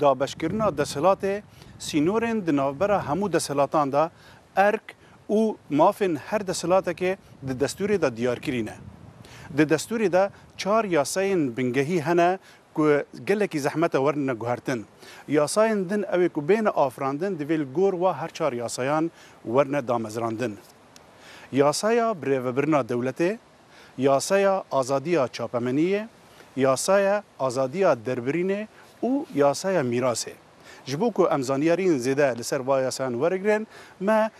Dabeşkirina deshilatê sînorên di navbera hemû deshilatan de erk û mafên her deshilatekê di destûrê de diyarkirî ne. Di destûrê de çar yasayên bingehî hene ku gelekî zehmet e werin guhertin. Yasayên din ew ê ku bêne afirandin divê li gor wa her çar yasayan werin damezrandin. Yasaya birêvebirina dewletê. Yasaya azadiya çapemeniyê, yasaya azadiya derbirînê û yasaya mîrasê. Ji bo ku em zanyariyên zêde li ser va yasayan werigrin, me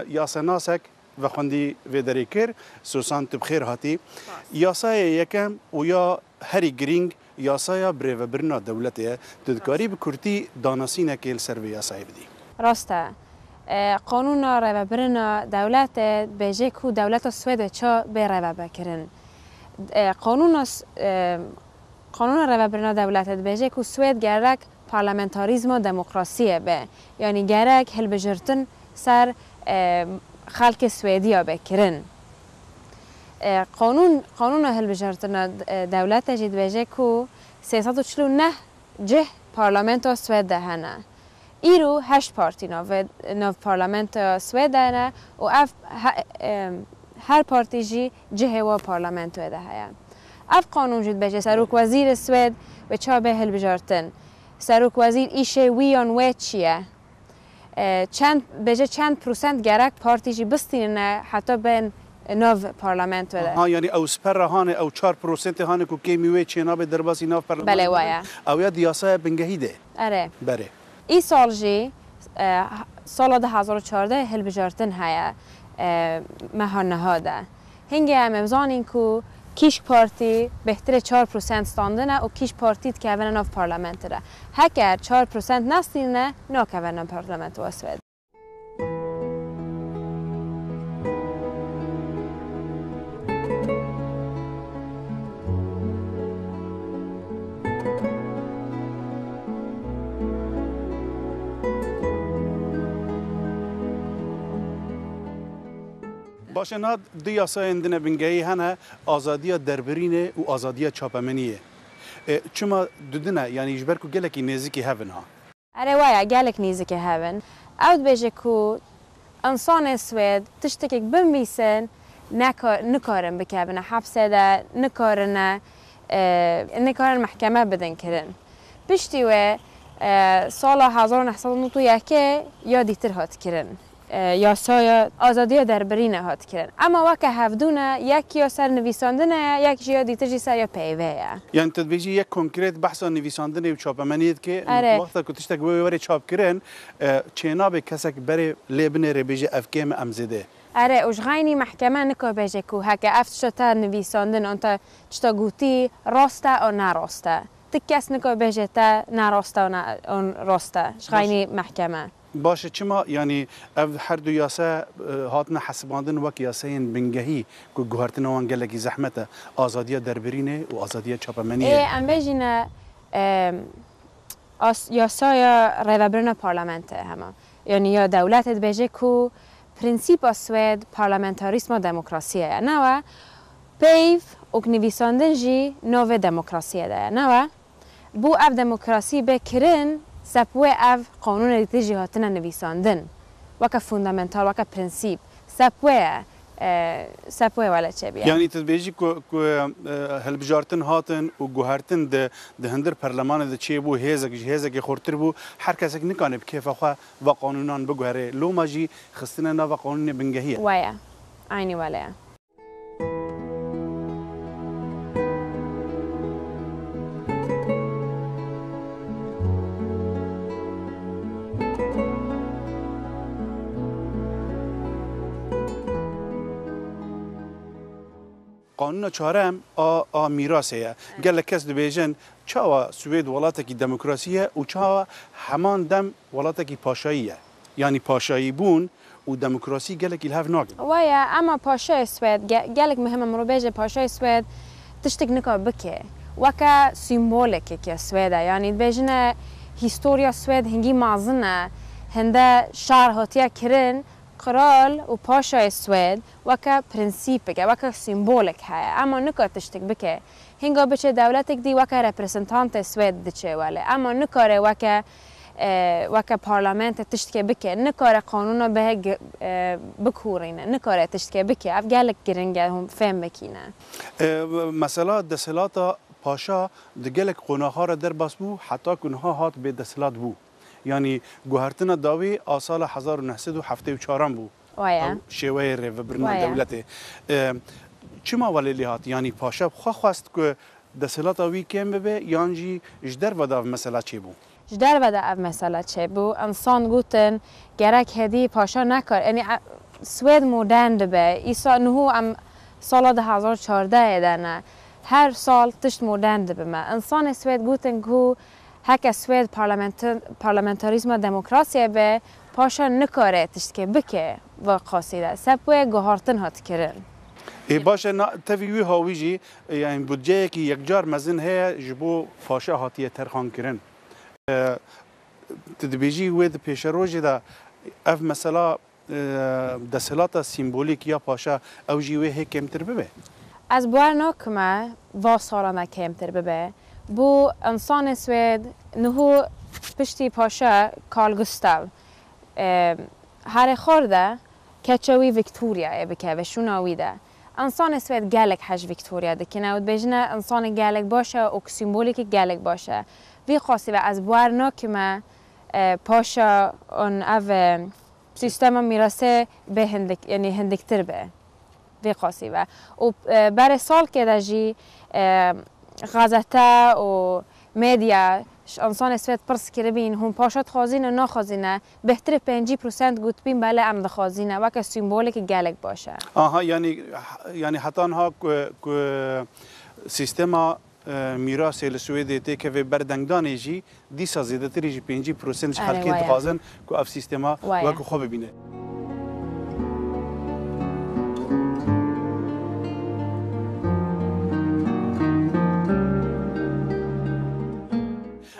yasenasek vexwendî vê derê kir, Susan tu bi xêr hatî. Yasaya yekem û ya Herî girîng yasaya birêvebirina dewletê ye. Tu dikarî bi kurtî danasînekê li ser vê yasayê bidî? Rast e. Qanûna rêvebirina dewletê dibêje ku dewleta Swêdê ça bê rêvebekirin. Qanûna Qanûna rêvebirina dewletê dibêje ku Swêd gerek parlamentarîzma demokrasiyê be. Yanî gerek hilbijirtin ser xelkê Swêdiya be kirin. Qanûn, qanûna hilbijartina dewlete jî dibêje ku sê sed û çil û neh cih parlamentoya Swêd de hene. Îro heşt partî navê nav parlamentoya Swêd de hene û ev her partî jî cihê wan parlamentoyê de heye. Ev qanûn jî dibêje serokwezîrê Swêd wê çabê hilbijartin. Serokwezîr îşê wî yan wê çi ye? Çend bêje çend prosent gerek partî jî bistînine heta bên nav parlamentoye de. Aha yanî ew siper re hane, ew çar prosentê hane ku kêmî wê çênabe derbasî nav Belê wa ye. Ew ya di yasaya bingehî de ye. Erê. Berê. Îsal jî sala du hezar û çardeh hilbijartin heye meha niha de. Hingê em ê bizanîn ku kîşk partî bêhtirê çar prosent standine û kîşk partî dikevine nav parlamenti de. Heker çar prosent nestînine nakeve nav parlamento ya Swêdê. Baş e, niha du yasayên din e bingehî hene, azadiya derbirînê û azadiya çapemeniyê. Çima du din e? Yanî ji ber ku gelekî nêzikî hev in ha. Erê waya, gelek nêzikî hev in. Ew dibêje ku însanên Swêd tiştekek binvîsin nikarin bikevine hepsê de, nikarine nikarin mehkeme bidin kirin. Piştî wê sala hezar û neh sed û newt û yekê ya dîtir hat kirin Yasaya azadiya derbirîne hat kirin. Ema weke hevdu ne, yek ya ser nivîsandine ye, yek ji ya dîtir jî ser ya peyvê ye. Yanî tu dibêjî yek konkret behsa nivîsandinê û çapemeniyê dike û tu wexta ku tiştek wê were çapkirin çênabe kesek berê lê bine rê bêje ev kêm e em zêde ye. Ere û ji xaynî mehkeme nika bêje ku heke ev tişta te nivîsandin an te tişta gotî rast e an ne rast e. Ti kes nika bêje te ne rast e an rast e. Ji xaynî mehkeme. Baş e çima? Yanî ev her du yase hatine hesibandin wek yaseyên bingehî ku guhertina wan gelekî zehmet e, azadiya derbirînê û azadiya çapemeniyê Ê ye. em bêjin e yasaya rêvebirina parlamento ye hema. Yanî ya dewletê dibêje ku prensîpa swêd parlamentarîsma demokrasiyê ye, ne we? Peyv û nivîsandin jî navê demokrasiyê de ye, ne we? Bû ev demokrasî bê kirin, sep wê ev qanûnê li te jî hatine nivîsandin. Weke fundamental, weke prinsîp. Sep wê ye, sep wê wele çê bîye. Yanî tu dibêjî ku ku hilbijartin hatin û guhertin di di hundir perlemanê de çê bû, hêzek ji hêzekê xurtir bû. Her kesek nikanê bi kêfa xwe va qanûnan biguherê. Loma jî xistine nava qanûnê bingehî ye. Wê ye. Eynî wele ye. Qanûna çarem a a mîrasê ye. Gelek kes dibêjin çawa Swêd welatekî demokrasî ye û çawa heman dem welatekî paşayî ye. Yanî paşayîbûn û demokrasî gelekî li hev nakin. Waya ema paşayê Swêd, gelek mihim e mirovbêje paşayê Swêd tiştek nika bike weke sîmbolekek e Swêd e. Yanî dibêjine hîstorya Swêd hingî mazin e. Hinde şar hatiye kirin, kral û paşayê Swêd weke prensîpek e, weke sîmbolek heye. Ema nika tiştek bike. Hinga biçe dewletek dî weke representantê Swêd diçe welê ema nikare weke weke parlamente tiştke bike, nikare qanûna bihe bikûrîne, nikare tiştke bike. Ev gelek giring e hûn fêm bikîne. Mesela desthilata paşa di gelek qonaxa re derbas bû heta ku niha hat bêdesthilat bû. Yanî guhertina dawî a sala hezar û neh sed û heftê û çaran bû. ew şêweyê rêvebirina dewletê çima welê lê hat? Yanî paşa bi xwe xwest ku desthilat a wî kêm bibe yan jî ji derve de ev mesela çêbû? Ji derve de ev mesela çêbû. Insan gotin gerek hêdî paşa nekar yanî Swêd modern dibe. Îsa niho em sala du hezar û çardeh de ne. Her sal tişt modern dibe me. Insanê Swêd gotin ku Heke Swêd parlamentarîzma demokrasiyê be, paşa nikare tiştke bike va qasî de. Sep wê guhartin hat kirin. Ê baş e, na tevî wiha wî jî yanî budceyekî yekcar mezin heye ji bo paşa hatiye terxan kirin. Tu dibêjî wê di pêşerojê de ev mesela Desthilata sîmbolîk ya paşa ew jî wê hê kêmtir bibe? Ez bawer nakim e va salan de kêmtir bibe. Bo însanên Swêd niho piştî paşa Karl Gustav herê xar de keça wî Victoriayê bike ve şûna wî de. Însanên Swêd gelek hej Victoria dikin ew dibêjin e însanê gelek baş e û sîmbolîkî gelek baş e. Vî qasî ve ez bawer nakim e paşa an ev Sîstema mîrasê bê hindik yanî hindiktir be vê qasî be û berê salkê de jî gazete û medya ji însanê sivêt pirs kiribîn hûn paşa dixwazîn û naxwazîne bêhtirê pêncî prosent gotibîn bele em dixwazîne weke sîmbolekî gelek baş e. Aha yanî yanî heta niha ku ku sîstema Mîrasê li Swêdê tê kevê berdengdanê jî dîsa zêdetirî ji pêncî prosent ji xelkê dixwazin ku ev sîstema wek xwe bibîne.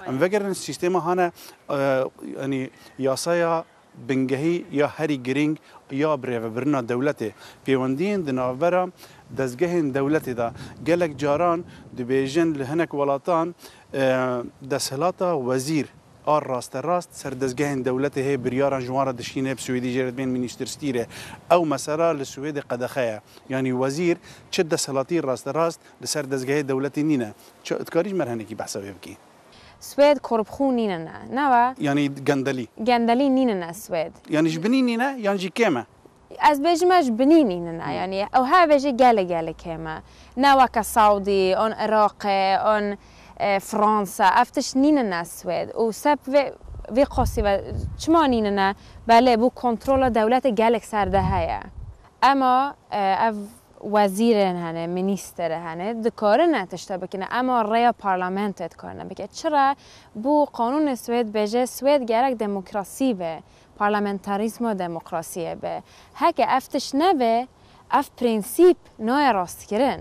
Em vegerin sîstema hane yanî yasaya Bingehî ya herî girîng ya birêvebirina dewletê, pêwendiyên di navbera dezgehên dewletê de. Gelek caran dibêjin li hinek welatan desthilata wezîr a rasterast ser dezgehên dewletê hê biryaran ji wan re dişîne, bi Swêdî jê re dibên Ministerstýre. Ew mesela li Swêdê qedexe ye. Yanî wezîr çi desthilatî rasterast li ser dezgehê dewletê nîne. Çi? Dikarî ji me re hinekî behsa wê bikî? Swêd korpxû nîne ne. Ne we? Yanî gendelî. Gendelî nîne ne swêd. Yanî ji binî nîne yan jî kêm e? Ez bêjim e ji binî nîne ne. Yanî ew hevê jî gelê gelê kêm e. Ne weke Sawdî an Iraqê an Fransa ev tişt nîne ne swêd. Û sep vê vê qasî ve çima nîne ne? Belê bo kontrola dewletê gelek ser de heye. Ema ev Wezîrên hene, mînîster hene, dikarin ev tişte bikin e, ema rêya parlamentoyê dikarine bike. Çira? Bo qanûnê Swêd bêje Swêd gerek demokrasî be, parlamentarîzma demokrasiyê be. Heke ev tişt nebe, ev prensîp nayê rastkirin.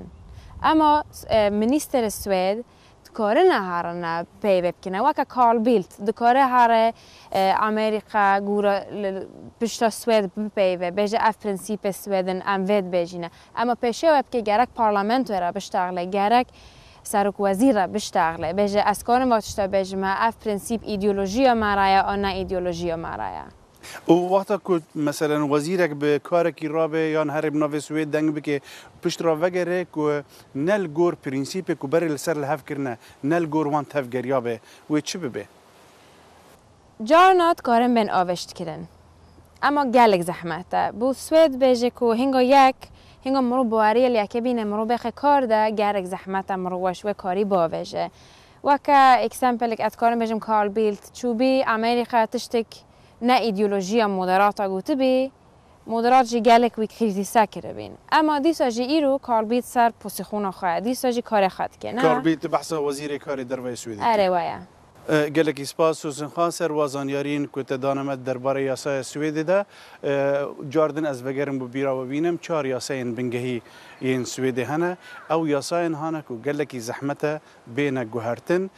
Ema mînîsterê Swêd dikarine herin peyve bikine weke Carl Bildt dikare here Amerîka gûre li pişta Swêd bipeyve bêje ev prensîpê Swêd in em vê dibêjîne ema pêşiya we bike gerek parlamentoyê re biştaxile gerek serokwezîr re biştaxile bêje ez karim va tişta bêjime ev prensîp îdeolojiya me re ye an ne îdeolojiya me re ye. Û wexta ku meselen wezîrek bi karekî re be yan herî bi navê Swêd deng bike pişt re vegere ku ne li gor prensîpê ku berê li ser li hev kirine ne li gor wan tevgeriya be wê çi bibe? Carna dikarin bên avêştkirin. Ema gelek zehmet e. Bo Swêd bêje ku hinga yek, hinga mirov bi weriyê li yekê bîne, mirov bêxe kar de gelek zehmet e mirov weş wê karî biavêje. Weke eksempelek ez dikarim bêjim Carl Bildt çûbî Amerîka tiştek ne îdeolojiya moderata gotibî, moderat jî gelek wî krîzîse kiribîn. Ema dîsa jî îro Carl Bildt ser posîxona xwe ye, dîsa jî karê xwe dike, ne? Carl Bildt di behsa wezîrê karê derve yê Swêdê kir. Erê we ye. Gelekî spas Susan Xan ser wa zanyariyên ku te dane me derbarê yasaya Swêdê de. Car din ez vegerim bi bîra we bînim çar yasayên bingehî yên Swêdê hene. Ew yasayên hane ku gelekî zehmet e bêne guhertin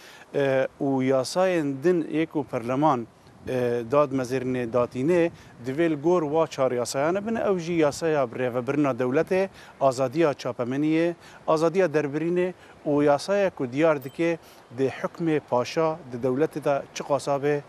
û yasayên din yê ku perleman dad mezêrinê datînê divê li gor wa çar yasayane bin, ew jî yasaya rêvebirina dewletê, azadiya çapemeniyê, azadiya derbirînê û yasayek ku diyar dike dê hukmê paşa di dewletê de çiqasa be,